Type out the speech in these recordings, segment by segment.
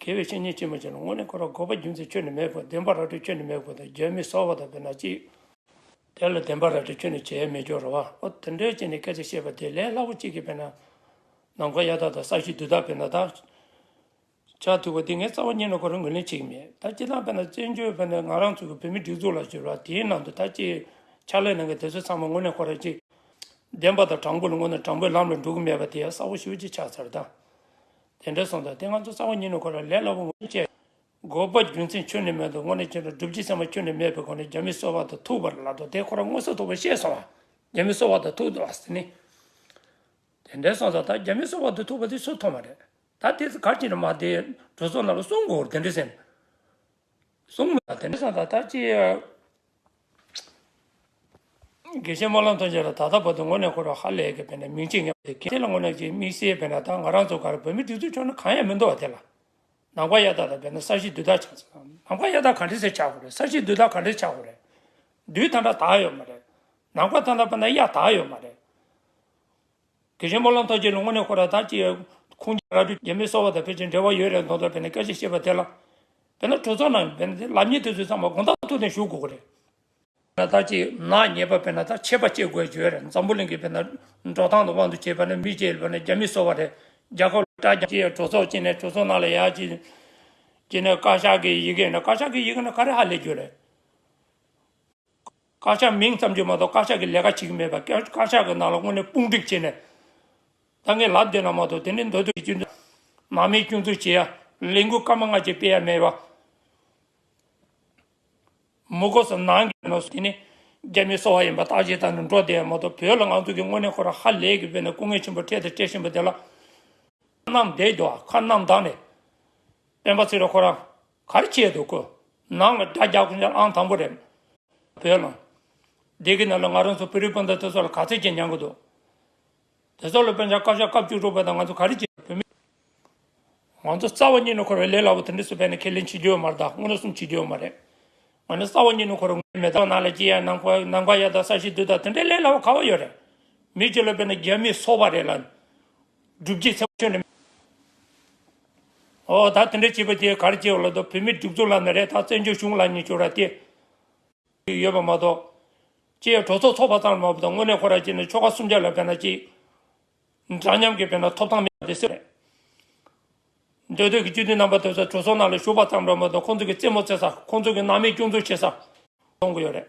དགེ་བའི་བཤེས་གཉེན་ཅན་མ་བྱས་ན་དངོས་གནས་འཁོར་བར་འགོག་པ་རྒྱུ་མཚན་ཁྱོད་ནི་མེད་དགོས་བདེན་པ་ར་སྤྲོད་ཁྱོད་ནི་མེད་དགོས་དང་རྒྱལ་མི་གསོ་བ་དང་བས་ན་ཅི། དེ་ལ་བདེན་པ་ར་སྤྲོད་ཁྱོད་ནི་བྱས་མི་སྦྱོར་རོ། ཨོ་དེ་འདྲའི་ཕྱིར་ནི་སྐད་ཆ་བཤད་པ་དེ་ལས་སླ་པོ་གཅིག་གིས་བས་ན། ནམ་མཁའ་གཡའ་དག་དང་ས་གཞི་རྡུལ་དག་བས་ན་ད། ཆ་མཐུག་པ་འདི་ངའི་རྩ་བ་རྙེད་ན་འཁོར་བར་ངོས་ལེན་བྱེད་ཀྱི་མེད་ད་ཅི་སྟངས་བས་ན་བཙན་བྱོལ་བས་ན་ང་རང་ཚོ་གི་བོད་མི་སྒྲིག་འཛུགས་ལ་བྱོལ་བ་དེའི་ནང་དུ་ད་ཅི། ཕྱག་ལས་གནང་མཁན་དེ་ཚོ་ཚང་མ་དངོས་གནས་འཁོར་བར་ཅི། བདེན་པ་དང་དྲང་པོ་ལ་དངོས་གནས་དྲང་པོའི་ལམ་ལ་འགྲོ་གི་མེད་པ་དེ་ཡང་གསལ་བོ་ཞིབ་ཅིག་ཆགས་ཚར་ད། དེ་འདྲ་སོང་དང་དེ་ང་ཚོ་གསང་བ་ཉིད་ནས་གོ་ལ་ལས་སླ་པོ་ངོ་ཤེས། དགོས་པ་རྒྱུ་མཚན་ཁྱོན་ནས་མེད་དོ་སྔོན་ནས་ཁྱོད་ལ་སྒྲུབ་བྱེད་ཚད་མ་ཁྱོན་ནས་མེད་པའི་སྒོ་ནས་རྒྱ་མི་གསོ་བ་དང་ཐུག་པར་ལབ་དོ་དེ་ཁོ་རང་དངོས་སུ་ཐུག་པ་ཤེས་སོང་བ། རྒྱ་མི་གསོ་བ་དང་ཐུག་ལ་ཟེར་ནི། དེ་འདྲ་སོང་ཙང་ད་རྒྱ་མི་གསོ་བ་དང་ཐུག་པ་དེ་སུ་མཐོང་བ་རེད། ད་དེ་ཚོ་ག་ཅིག་ན་མ་དེ་གྲོས་ཚོགས་རྣམས་ལ་གསུང་དགོས་དེ་འདྲ་ཟེར་ནི། གསུམ་ལ་དེ་འདྲ་སང་ད་ལྟ་ཅི། དགེ་བཤེས་སྨོན་ལམ་དོན་རྒྱ་ལ་ད་ལྟ་བར་དུ་ངོ་ནས་འཁོར་བ་ཧ་ལས་ཀྱི་བས་ན་མིང་ཅི་ངན་པ་དེ་གལ་ཆེ་ལ་ངོ་ནས་ཀྱི་དམིགས་བསལ་བས་ན་ད་ང་རང་ཚོ་གར་བོད་མི་སྒྲིག་འཛུགས་ཆོག་ན་གང་ཡང་མི་འདུག་བ་དེ་ལ། ནང་པ་གཡའ་དག་དང་བས་ན་ས་གཞི་དུས་རྟགས་ཆགས་ཚེ། ནང་པ་གཡའ་དག་ག་འདྲི་ཚེ་ཆགས་དགོས་རེད་ས་གཞི་དུས་རྟགས་ག་འདྲི་ཆགས་དགོས་རེད། དུས་ད་འདྲ་དག་ཡོད་མ་རེད། ནང་པ་ད་འདྲ་བས་ན་གཡའ་དག་ཡོད་མ་རེད། དེ་བཞིན་སྨོན་ལམ་ཐོག་ཁྱེད་ལུང་མ་ནས་ཁོ་ར་དྭགས་ཀྱི་ཁུངས་རྒྱ་ར་དྲུག་རྒྱ་མི་གསོ་བ་དང་ཕལ་ཆེར་འབྲེལ་བ་ཡོད་རེད་མདོག་མདོག་བས་ནས་སྐད་ཆ་བཤད་པ་དེ་ལ། བས་ན་གྲོས་ཚོགས་ནང་བས་ན་ལབ་གཉིས་དེ་ཚོས་ཚང་མ་དགོངས་དག་ཐུགས་ནས་ཞུ་དགོས་ཀྱི་རེད། ན་དྭགས་ཀྱི་ནག་ཉེས་པ་བས་ན་དྭགས་ཆད་པ་བཅད་དགོས་བརྗོད་རེད་འཛམ་བུ་གླིང་གི་བས་ན་འབྲོག་ཐང་དུ་དབང་དུ་བྱས་པ་ནི་མི་བྱེད་བས་ན་རྒྱ་མི་གསོ་བ་རེད་རྒྱ་ཁབ་ལ་སྐྲག་ཀྱི་ཡོད་གྲོས་ཚོགས་ཀྱི་ནས་གྲོས་ཚོགས་ནང་ལ་ཡ་ཀྱི་ཀྱི་ནས་བཀའ་ཤག་གི་ཡི་གེ་ནས་བཀའ་ཤག་གི་ཡི་གེ་ནི་ག་རེ་ཧ་ལས་རྒྱུ་རེད། དཀར་ཆག་མིང་ཙམ་གྱིས་མ་གཏོགས་དཀར་ཆག་གི་ལས་ཀ་བྱེད་ཀྱི་མེད་པ། དཀར་ཆག་གི་ནང་ལ་དངོས་གནས་དཔུང་སྒྲིག་བྱས་ནས། ད་ངས་ལབ་བསྡད་ན་མ་གཏོགས་དེ་འདྲའི་མདོ་སྟོད་ཀྱི་སྐྱོན་འཛུགས། ནང་མིའི་སྐྱོན་འཛུགས་བྱེད་ཡ། ལས་འགུལ་སྐར་མ་ལྔ་བཅས་སྤེལ་ཡ་མེད་པ། མུ་གོ་ས་ནང་གི་ནོར་སྲིད་དེ་ནི། རྒྱ་མིའི་སོ་བ་ཡིན་པ་བརྟག་དཔྱད་བཏང་ནས་འགྲོ་བསྡད་ཡ་མ་གཏོགས་བོད་ལ་ང་ཚོ་གིས་དངོས་གནས་ཁོ་རང་ཧ་ལས་ཀྱི་བོད་ནས་སྐུ་ངལ་ཆེན་པོ་འཕྲད་དང་སྤྲད་བཞིན་པ་དེ་ལ། ཁ་ནམ་བསྡད་འགྲོ་བ་ཁ་ནམ་བདག་ནས། སྤེན་པ་ཚེ་རིང་ཁོ་རང། གར་བསྐྱེད་དུ་བསྐོས། ནང་ལ་དགྲ་རྒྱག་ཁུངས་ཅན་ཨང་དང་པོ་རེད། བོད་ལ། འདི་གི་ནང་ལ་ང་རང་ཚོ་བོད་རིགས་སྤུན་ཟླ་དེ་ཚོ་ལ་ག་ཚད་ཅིག་ཉན་གི་འདུག། དེ་ཚོ་ལ་དཔེ་ཆ་སྐབས་ཤ་སྐབས་བཅུ་དྲུག་པ་དང་ང་ཚོ་ག་རེ་བྱེད་བོད་མི། ང་ཚོ་རྩ་བ་ཉིད་ནས་འཁོར་བའི་ལས་སླ་པོ་དེ་འདྲས་སུ་བས་ནས་ཁས་ལེན་བྱེད་རྒྱུ་ཡོད་མ་རེད་ད་མངོན་སུམ་བྱེད་རྒྱུ་ཡོད་མ་རེད། ང་ནི་རྩ་བ་ཉིད་ནས་འཁོར་བའི་མེ་ཏོག་ནང་ལ་སྐྱེས་ཡ་ནམ་མཁའ་ཡ་དང་ས་གཞི་རྡུལ་དང་དེ་འདྲས་ལས་སླ་བོ་ག་བ་ཡོད་རེད། མི་ཁྱོད་ལ་བས་ན་རྒྱ་མིས་སོག་པ་རེད་ལ། སྒྲུབ་བྱེད་ཚེ་ཆོས་ནི། འོ་ད་དེ་འདྲ་བྱས་པ་དེ་གར་སྐྱེ་བ་ལ་དོ་བོད་མིར་སྒྲུབ་ཚུལ་ལབ་ན་རེ་ད་བཙན་བྱོལ་གཞུང་ལ་ཉེས་སྤྱོར་ར་སྟེ། ཡོད་པ་མ་གཏོགས། ཅེས་གྲོས་ཚོགས་ཚོགས་པ་ཙམ་ལ་མ་བབ་དང་དངོས་གནས་ཁོ་ར་སྐྱེས་ནས་ཆོལ་ཁ་སུམ་ཆ་ལ་བས་ན་ཅིག། འདྲ་མཉམ་གྱི་བས་ན་ཐོབ་ཐང་མེད་པ་དེ་སེམས་རེད། འདོད་འདོད་ཀྱི་སྤྱི་འཐུས་རྣམ་པ་དེ་ཚོ་གྲོས་ཚོགས་ནང་ལ་ཞུགས་པ་ཙམ་ལ་མ་གཏོགས་ཁོང་ཚོ་གི་རྩེད་མོ་རྩེ་ས་ཁོང་ཚོ་གི་ནང་མི་སྐྱོང་ཚུལ་བྱེད་ས། གཏོང་གི་ཡོད་རེད།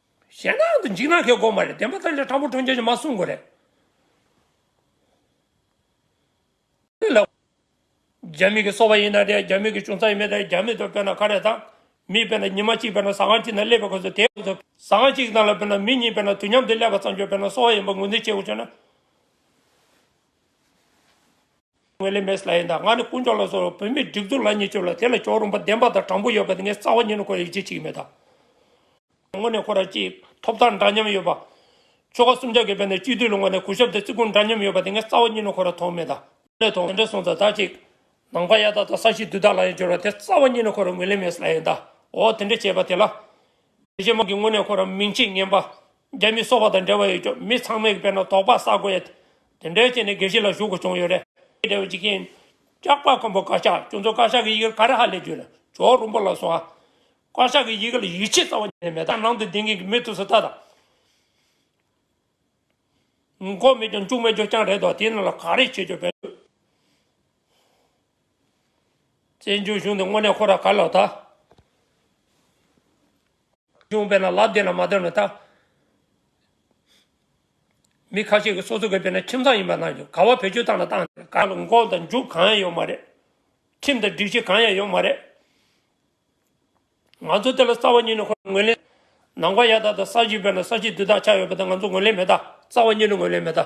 གཞན་དག་ཏུ་འཇིགས་ན་ཁའི་སྒོ་མ་རེད་བདེན་པ་ཐམས་ཅད་ཕྲ་མོ་འཕྲོ་འཇལ་གྱི་མ་གསུངས་དགོས་རེད། རྒྱ་མི་གི་སོ་བ་ཡིན་ན་རེད་རྒྱ་མི་གི་ཅུང་ཙག་ཡིན་མེད་རེད་རྒྱ་མི་དོ་དཔེར་ན་ཁ་རེད་ད། མི་དཔེར་ན་ཉི་མ་གཅིག་དཔེར་ན་ཟ་ཁང་གཅིག་ན་སླེབས་པའི་གོ་ཚོད་དེའི་ཟ་ཁང་གཅིག་དང་ལ་དཔེར་ན་མི་གཉིས་དཔེར་ན་དུས་མཉམ་དུ་སླེབས་པ་ཙམ་གྱི་དཔེར་ན་སོ་བ་ཡིན་པ་ངོས་འཛིན་བྱེད་དགོས་བྱུང་ན། ངོས་ལས་མེད་སླ་ཡིན་ད་ང་ནི་དཀོན་མཆོག་ལ་སོགས་བོད་མིའི་སྒྲིག་འཛུགས་ལ་ཉེས་སྤྱོད་ལ་དེ་ལ་ཕྱོགས་རུང་པ་བདེན་པ་དང་དྲང་པོ་ཡོད་པ་དེ་ངས་རྩ་བ་ཉིད་ནས་ཁོ་ལ་ཡིད་ཆེས་བྱེད་ཀྱི་མེད་ད། དངོས་གནས་ཁོ་རང་གཅིག་ཐོབ་ཐང་འདྲ་མཉམ་ཡོད་པ། ཆོལ་ཁ་གསུམ་ཆ་གས་བལ་ནས་སྤྱི་འཐུས་ལ་ངོས་ནས་གུས་ཞབས་དང་བརྩི་བཀུར་འདྲ་མཉམ་ཡོད་པ་དེ་ངས་རྩ་བ་ཉིད་ནས་ཁོ་རང་མཐོང་མེད་ད། ངོས་ལས་མཐོང་དེ་འདྲ་སོང་ད་ད་ཅིག། ནང་པ་ཡག་དག་དང་ས་གཤིས་བསྡུས་དག་ལ་ཡང་སྦྱོར་བ་དེ་རྩ་བ་ཉིད་ནས་ཁོ་རང་ངོས་ལས་མེད་སླ་ཡིན་ད། འོ་དེ་འདྲ་བྱས་པ་དེ་ལ། དེ་བྱས་མ་གིས་དངོས་གནས་ཁོ་རང་མིང་ཆེས་ངན་པ། རྒྱ་མི་སོག་པ་དང་འབྲེལ་བ་ཡོད་ཀྱང་མི་ཚང་མས་དཔེར་ན་དོགས་པ་བསགས་དགོས་ཡ། དེ་འདྲའི་རྐྱེན་ནི་དགེ་བཤེས་ལ་ཞུ་དགོས་བྱུང་ཡོད་རེད། འབྲེལ་བའི་འཇིག་རྟེན། སྐྱག་པ་ཀོན་པོ་བཀའ་ཤག་ཁྱོད་ཚོ་བཀའ་ཤག་གི་ཡི་གེར་ག་རེ་ཧ་ལས་རྒྱུ་ལ་ཇོ་རུ་འབོ་ལ་སོང་ཨ། བཀའ་ཤག་གི་ཡི་གེ་ལ་ཡིད་ཆེས་རྩ་བ་ནས་མེད་ད་ནང་དུ་ལྡིང་མཁན་གྱི་མི་ཐུགས་སུ་ལྟ་དང། མགོ་མེད་ཀྱང་ལྕུག་མེད་རྒྱོབ་རྐྱང་རེད་དོ་དེ་རྣམས་ལ་ག་རེ་བྱེད་རྒྱུ་བེད་འདུག། བཙན་བྱོལ་གཞུང་འདི་དངོས་གནས་ཁོ་ར་ག་ལ་ད། བྱུང་བས་ན་ལབ་བདེ་ན་མ་བདེ་བ་མི་བལྟ། མི་ཁ་ཤས་ཀྱི་སོ་སོ་གི་བས་ན་ཁྱིམ་ཚང་ཡིན་པ་ནང་ག་བ་བེད་སྤྱོད་བཏང་ན་བཏང། ཁ་ལ་འགོག་དང་འཇུག་གང་ཡང་ཡོད་མ་རེད། ཁྲིམས་དང་སྒྲིག་གཞི་གང་ཡང་ཡོད་མ་རེད། ང་ཚོ་དེ་ལ་རྩ་བ་ཉིད་ནས་ངོས་ལེན། ནང་པ་ཡག་དག་དང་ས་གཞི་བས་ན་ས་གཞི་དུས་ཐག་ཆགས་ཡོད་པ་དེ་ང་ཚོ་ངོས་ལེན་མི་བལྟ། རྩ་བ་ཉིད་ནས་ངོས་ལེན་མི་བལྟ།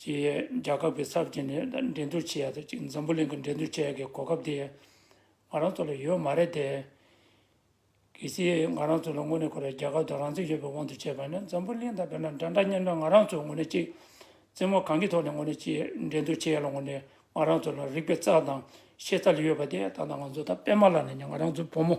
ཀྱིས་རྒྱལ་ཁབ་ཀྱི་ཚབ་བྱས་ནས་འགྲན་སྡུར་བྱས་ཡག་ཏུ་བཅུག་འཛམ་བུ་གླིང་གི་འགྲན་སྡུར་བྱས་ཡག་གི་གོ་སྐབས་དེ་ང་རང་ཚོ་ལ་ཡོད་མ་རེད་དེ། གལ་སྲིད་ང་རང་ཚོ་ལ་དངོས་གནས་ཁོ་རང་རྒྱལ་ཁབ་དང་རང་བཙན་ཡོད་པའི་དབང་དུ་བྱས་པ་ན་འཛམ་བུ་གླིང་དང་བོད་ནང་འདྲ་འདྲ་མཉམ་མཉམ་ང་རང་ཚོ་ངོ་ནས་ཅིག་རྩེད་མོ་གང་གི་ཐོག་ནས་ངོ་ནས་ཅིག་འགྲན་སྡུར་བྱས་ཡག་ལ་ངོ་ནས་ང་རང་ཚོ་ལ་རིག་པའི་རྩལ་དང་ཤེས་རྩལ་ཡོད་པ་དེ་ད་ལྟ་ང་ཚོ་ད་པད་མ་ལགས་ནས་ང་རང་ཚོའི་བུ་མོ།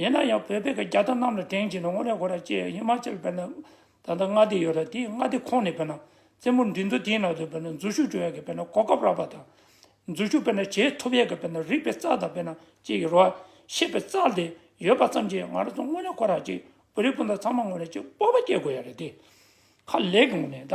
ཡིན་ན་ཡང་བོད་པའི་རྒྱ་དར་གནམ་ལ་དེངས་བྱས་ན་དངོས་གནས་གོ་ར་སྐྱེ་ཡ་ཧི་མ་ཅལ་བོད་ན་ད་ལྟ་མངའ་སྡེ་ཡོད་ར་དེའི་མངའ་སྡེ་ཁོངས་ནས་བོད་ན་རྩེད་མོ་འགྲིག་འདུག་དེའི་ནང་དུ་བོད་ན་འཛུལ་ཞུགས་འགྲོ་ཡ་གི་བོད་ན་གོ་སྐབས་རག་པ་དང། འཛུལ་ཞུགས་བོད་ན་བྱེད་ཐུབ་ཡ་གི་བོད་ན་རིག་པའི་རྩལ་དང་བོད་ན་སྐྱེ་ཡི་རོ་ཤེས་པའི་རྩལ་དེ་ཡོད་པ་ཙམ་གྱིས་ང་ར་ཚོ་དངོས་གནས་གོ་ར་སྐྱེ་བོད་རིགས་སྤུན་ཟླ་ཚང་མ་དངོས་གནས་སྤྱི་སྤོབས་པ་སྐྱེ་དགོས་ཡ་རེད་དེ། ཁ་ལེགས་ངོ་ནས་ད།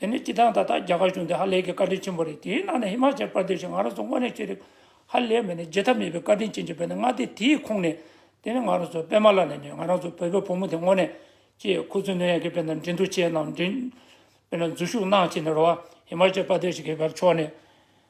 དེ་ནི་སྤྱི་བཏང་ད་ལྟ་རྒྱ་གར་གཞུང་དེ་ཧ་ལས་ཀྱི་བཀའ་དྲིན་ཆེན་པོ་རེད་དེའི་ནང་ནས་ཧི་མ་ཅལ་པར་དེ་ཞིག་ང་རང་ཚོ་དངོས་གནས་ཆོས་རིག་ཧ་ལས་མེད་ནས་བརྗེད་ཐབས་མེད་པའི་བཀའ་དྲིན་ཅན་གྱི་བོད་ནས་མངའ་སྡེ་དེའི་ཁོངས་ནས་དེ་ནི་ང་རང་ཚོ་པད་མ་ལགས་ལས་ནས་ང་རང་ཚོ་བོད་པའི་བུ་མོ་དེ་དངོས་གནས་ཀྱིས་ཁུ་ཚུར་གནོན་ཡག་གི་བོད་ནང་འགྲན་བསྡུར་བྱས་ནང་འགྲན་བོད་ནང་འཛུལ་ཞུགས་གནང་བྱས་ནས་རོ་ཧི་མ་ཅལ་པར་དེ་ཞིག་གི་བབ་ཕྱོགས་ནས།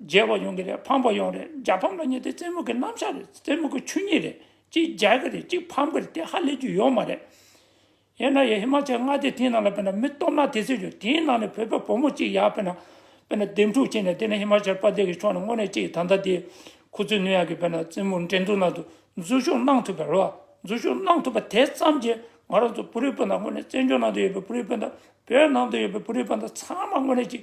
རྒྱལ་བ་ཡོང་གི་རེད་ཕམ་པ་ཡོང་རེད་རྒྱ་ཕམ་ལ་ཉེ་དེ་རྩེད་མོ་གི་རྣམ་གཞག་རེད་རྩེད་མོ་གི་ཆོས་ཉིད་རེད་གཅིག་རྒྱལ་གི་རེད་གཅིག་ཕམ་གི་རེད་དེ་ཧ་ལས་རྒྱུ་ཡོད་མ་རེད། ཡིན་ན་ཡང་ཧི་མ་ཅལ་མངའ་སྡེ་དེའི་ནང་ལ་དཔེར་ན་མི་སྟོབས་ནག་དེ་ཚོས་ཡོད་དེའི་ནང་ནས་བོད་པའི་བུ་མོ་གཅིག་ཡར་དཔེར་ན། དཔེར་ན་འདེམས་སྒྲུག་བྱས་ནས་དེ་ནས་ཧི་མ་ཅལ་པ་དེ་གི་ཕྱོགས་ནས་དངོས་གནས་གཅིག་ད་ལྟ་དེའི་ཁུ་ཚུར་ནུས་ཡག་གི་དཔེར་ན་རྩེད་མོ་འགྲན་བསྡུར་ནང་དུ་འཛུལ་བཞུགས་གནང་ཐུབ་པའི་རེ་བ་འཛུལ་བཞུགས་གནང་ཐུབ་པ་དེ་ཙམ་གྱིས་ང་རང་ཚོ་བུ་རིགས་སྤུན་ཟླ་དངོས་གནས་བཙན་བྱོལ་ནང་དུ་ཡོད་པའི་བུ་རིགས་སྤུན་ཟླ་བོད་ནང་དུ་ཡོད་པའི་བུ་རིགས་སྤུན་ཟླ་ཚང་མ་དངོས་གནས་གཅིག་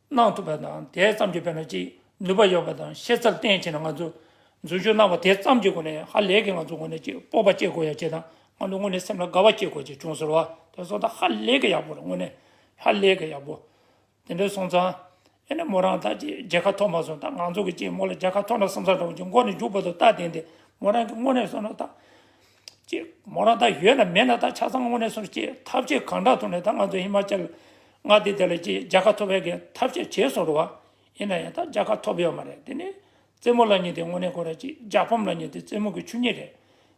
གནང་ཐུབ་པ་དང་དེ་ཙམ་གྱིས་བོད་ལ་ཅི་ནུས་པ་ཡོད་པ་དང་ཤེས་ཚད་བརྟན་ཕྱིན་ལ་ང་ཚོས་འཛུལ་ཞུགས་གནང་བ་དེ་ཙམ་གྱི་སྒོ་ནས་ཧ་ལས་ཀྱི་ང་ཚོའི་ངོས་ནས་ཅིག་སྤོབས་པ་བསྐྱེད་དགོས་ཡ་བྱས་དང་ང་ཚོའི་ངོས་ནས་སེམས་ལ་དགའ་བ་བསྐྱེད་དགོས་ཅིག་བྱུང་ཟེར་བ་དེ་སོང་ཙང་ཧ་ལས་ཀྱི་ཡག་པོ་རེད་དངོས་གནས་ཧ་ལས་ཀྱི་ཡག་པོ། དེ་འདྲ་སོང་ཙང། ཨེ་ནས་མོ་རང་ད་ཅིག་རྒྱལ་ཁ་ཐོབ་མ་སོང་ད་ང་ཚོ་གིས་ཅིག་མོ་ལ་རྒྱལ་ཁ་ཐོབ་ན་བསམ་ས་འདྲ་བོ་ཅིག་མགོ་ནས་མཇུག་བར་དུ་ལྟ་བསྡད་འདི་མོ་རང་གི་དངོས་གནས་བསམ་ན་ད། ཅེས་མོ་རང་ད་ཡོད་ན་མེད་ན་ད་ཆ་ཚང་དངོས་གནས་སོང་ཅེས་ཐབས་ཆེ་གང་དྲག་ཐོག་ནས་ད་ང་ཚོ་ཧི་མཱ་ཅལ་མངའ་སྡེ་དེ་ལ་ཅེས་རྒྱལ་ཁ་ཐོབ་ཡག་གི་ཐབས་ཤེས་བྱས་སོང་འགྲོ་བ། ཡིན་ན་ཡང་ད་རྒྱལ་ཁ་ཐོབ་ཡོད་མ་རེད་དེ་ནི་རྩེད་མོ་ལ་ཉེ་དེ་དངོས་གནས་གོ་ར་ཅིག་རྒྱལ་ཕམ་ལ་ཉེ་དེ་རྩེད་མོ་གི་ཆུ་ཉིད་རེད་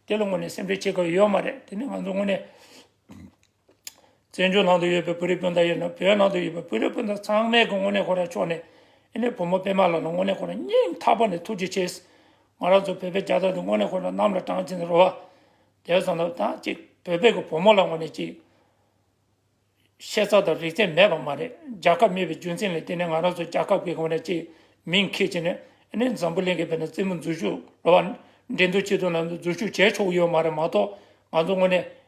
དེ་ལ་དངོས་གནས་སེམས་ཁྲལ་བྱེད་དགོས་ཡོད་མ་རེད་དེ་ནི་ང་ཚོ་དངོས་གནས། བཙན་བྱོལ་ནང་དུ་ཡོད་པའི་བོད་རིགས་སྤུན་ཟླ་ཡིན་ན་བོད་ནང་དུ་ཡོད་པའི་བོད་རིགས་སྤུན་ཟླ་ཚང་མས་དངོས་གནས་ཁོ་རང་ཕྱོགས་ནས་ཨནེ་བུ་མོ་པད་མ་ལགས་ལ་དངོས་གནས་ཁོ་རང་སྙིང་ཐག་པ་ནས་ཐུགས་རྗེ་ཆེ། ང་རང་ཚོ་བོད་པའི་རྒྱ་དར་འདི་དངོས་གནས་ཁོ་རང་གནམ་ལ་དྲངས་ཕྱིན་རོལ་བ། དེ་སོང་ལ་ཐང་ཅིག་བོད་པའི་གི་བུ་མོ་ལ་དངོས་གནས་ཅིག། ཤེས་ཚ་དང་རིག་ཚན་མེད་པ་མ་རེད་རྒྱ་ཁབ་མེད་པའི་རྒྱུ་མཚན་ལས་དེ་ནས་ང་རང་ཚོ་རྒྱ་ཁབ་གི་དངོས་གནས་ཅིག་མིང་ཁས་ཅི་ནས་ཨནེ་འཛམ་བུ་གླིང་གི་བེད་ན་རྩེད་མོ་འཛུལ་ཞུགས་རོལ་བ། འགྲན་བསྡུར་ཆེ་མཐོང་ནང་དུ་འཛུལ་ཞུགས་བྱས་ཆོག་གི་ཡོད་མ་རེད་མ་གཏོགས་ང་ཚོ་དངོས་གནས